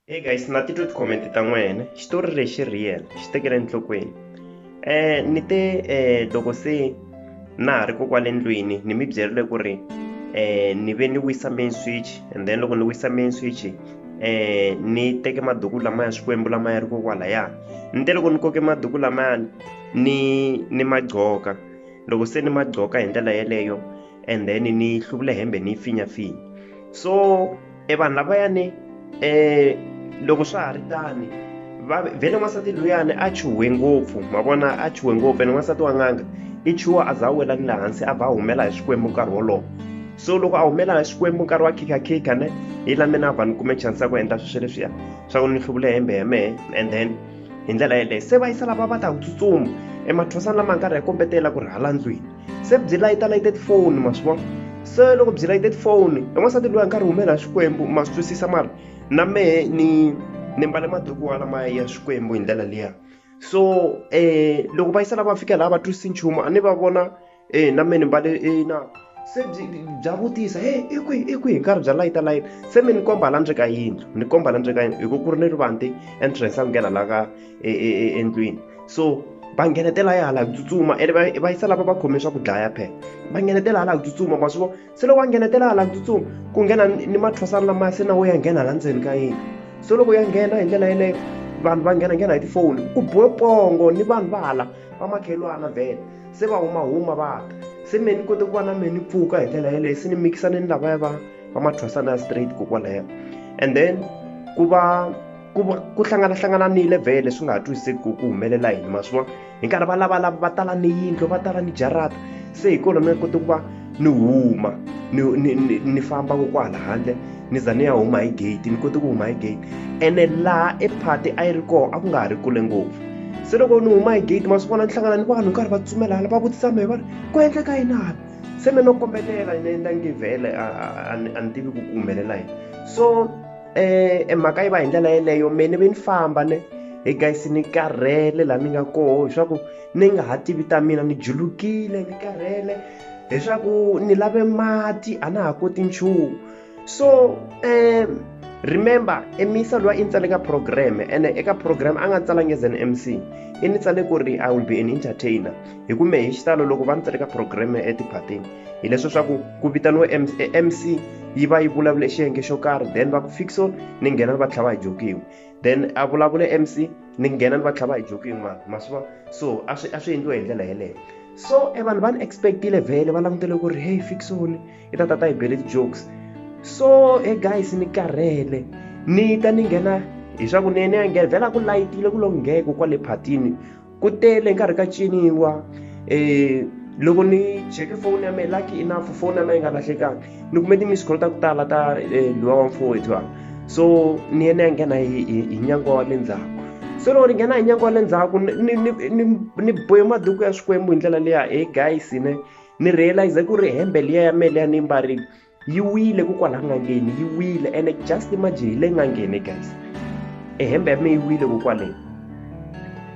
Hey guys na titwe ti-comment ta n'wena xitori lexi real xi tekele enhlokweni um ni te um loko se na ha ri kokwale ndlwini ni mi byerile ku ri um ni ve ni wisa main switch and then loko ni wisa main switch um ni teke maduku lamaya xikwembu lama ya ri kokwalaya ni te loko ni koke maduku lamayani ni ni ma gqoka loko se ni ma gqoka hi ndlela yeleyo and then ni hluvula hembe ni yi finyafinya so e vanhu lavayani um loko swa ha ri tani vhele n'wansati luyani a chuhwe ngopfu ma vona a chuhwe ngopfu ene n'wansati wa n'anga i chuha a za a wela ni le hansi a va a humela hi xikwembu nkarhi wolowo so loko a humela hi xikwembu nkarhi wa khikhakhikha ne yi la mina a va ni kume chance ya ku endla sweswo leswiya swa ku ni hluvule hembe ya mehe and then hi ndlela yeleyo se va yisa lava va ta ku tsutsuma emathosana lama nkarhi ya kombetela ku ri hala ndlwini se byi layita layite tifoni ma swi vona se loko byi layite tifoni i n'wansati loyi a nga ri humela xikwembu ma swi twisisa mara na mehe ni ni mbale maduku wa lama ya xikwembu hi ndlela liya so um loko va yisela va fika laha va twisisi nchumu a ni va vona um na mehe ni mbale na se byi bya vutisa he i kwihi i kwihi nkarhi bya layita layita se mi ni komba la ndzeni ka yindlu ni komba la ndzeni ka yindlu hi ku ku ri ni rivande entrance a nghena la ka e, e, e, endlwini so va nghenetela ya hala ku tsutsuma ene va va yisa lava va khome swa ku dlaya phela va nghenetela hala ku tsutsuma ma swi vona se loko va nghenetela hala ku tsutsuma ku nghena ni mathwasana lamaya se na wo ya nghena hala ndzeni ka yini so loko ya nghena hi ndlela yeleyo vanhu va nghena nghena hi tifoni ku bohe pongo ni vanhu va hala va makhelwana vhele se va huma huma va ta se me ni kote ku va na me ni pfuka hi ndlela yeleyo se ni mikisane ni lavaya va va mathwasana ya straight kokwalayo and then ku va ku va ku hlanganahlangananile vhele swi nga ha twisiseki ku ku humelela yini ma swi vona hi nkarhi va lavalava va tala ni yindlu va tala ni jarata se hi kona mi nga koti ku va ni huma ni ni ni ni famba ko kwala handle ni za ni ya huma hi gate ni kote ku huma hi gate ene laha e party a yi ri kona a ku nga ha ri kule ngopfu se loko ni huma hi gate ma swi vona ni hlangana ni vanhu karhi va tsumela hala va vutisa mehe va ri ku endleka yini hala se me no kombelela ni endla ngi vhele a ni tivi ku ku humelela yini so eh, e mhaka yi va hi ndlela yeleyo me ni ve ni famba ne he guys ni karhele laha ni nga koho leswaku ni nga ha tivi ta mina ni julukile ni karhele leswaku ni lave mati a na ha koti nchumu so um remember emisa loyi i ni tsale ka program ene eka program a nga tsalangi as an mc i ni tsale ku ri i will be an entertainer hi kume hi xitalo loko va ni tsale ka program etiphatini hileswo swa ku ku vitaniwe mc yi va yi vulavule xiyenge xo karhi then va ku fixon ni nghena ni va tlhava hi jokiwi then a vulavule mc ni nghena ni va tlhava hi jokiwi ma ma swi va so a swi a swi endliwe hi ndlela yeleyo so e vanhu va ni expectile vhele va langutele ku ri hey fixon i ta tata hi bele ti-jokes so e guys ni karhele ni ta ni nghena hi swa ku ni ni ya nghena vhela ku layitile ku lo ngheko kwale phatini ku tele hi nkarhi ka ciniwa um loko ni cheke foni ya mehe lucky enough foni ya mehe yi nga lahlekanga ni kume ti-miss call ta ku tala ta um luwa wa mfowethu a so ni ye ni ya nghena hi hi hi nyango wa le ndzhaku so loko ni nghena hi nyango wa le ndzhaku ni ni ni ni ni bohe maduku ya swikwembu hi ndlela liya he guys ne ni realize ku ri hembe liya ya mehe liya ni yi mbarile yi wile ku kwala n'angeni yi wile ene just imagine hi le n'angeni guys e hembe ya me yi wile ku kwaleni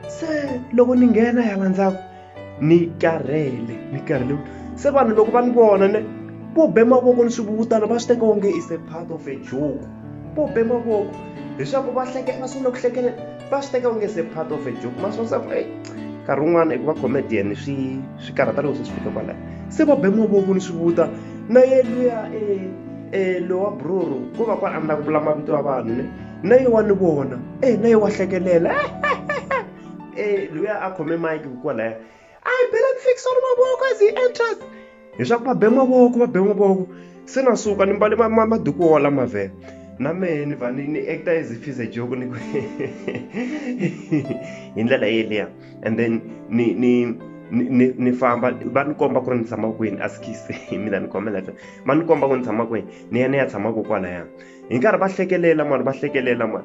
se loko ni nghena ya landzaka ni karhele ni karhele se vanhu loko va ni vona ne ku be mavoko ni swivuvutana va swi teka onge is a part of a joke ku be mavoko leswaku va hlekela va sungula ku hlekelela va swi teka onge se part of a joke masonsa ku eyi nkarhi wun'wana eku va comedian swi swi karhata loko se swi fika kwalaya se va be mavoko ni swi vuta na ye luya e lowa broro ko va kwala a ni la ku vula mavito ya vanhu ne na ye wa ni vona e na ye wa hlekelela e luya a khome mike kwalaya a hi belani fixon mavoko as he enters leswaku va be mavoko va be mavoko se na suka ni mbale maduku wo wala mavhele na mehe ni va ni acta as if is a joke ni ku hi ndlela yeleya and then ni ni ni ni famba va ni komba ku ri ni tshama kwini a skise hi mina ni kombela fe va ni komba ku ni tshama kwini ni ya ni ya tshama ko kwalaya hi nkarhi va hlekelela mani va hlekelela mani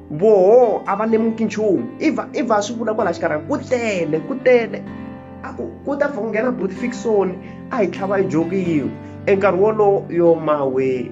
voho a va lemuki nchumu i va i va swi vula kwala xikarhi ku tele ku tele a ku ku ta pfa ku nghena buti fikisoni a hi tlhava yi jokiyiwe enkarhi wolowo yo mawe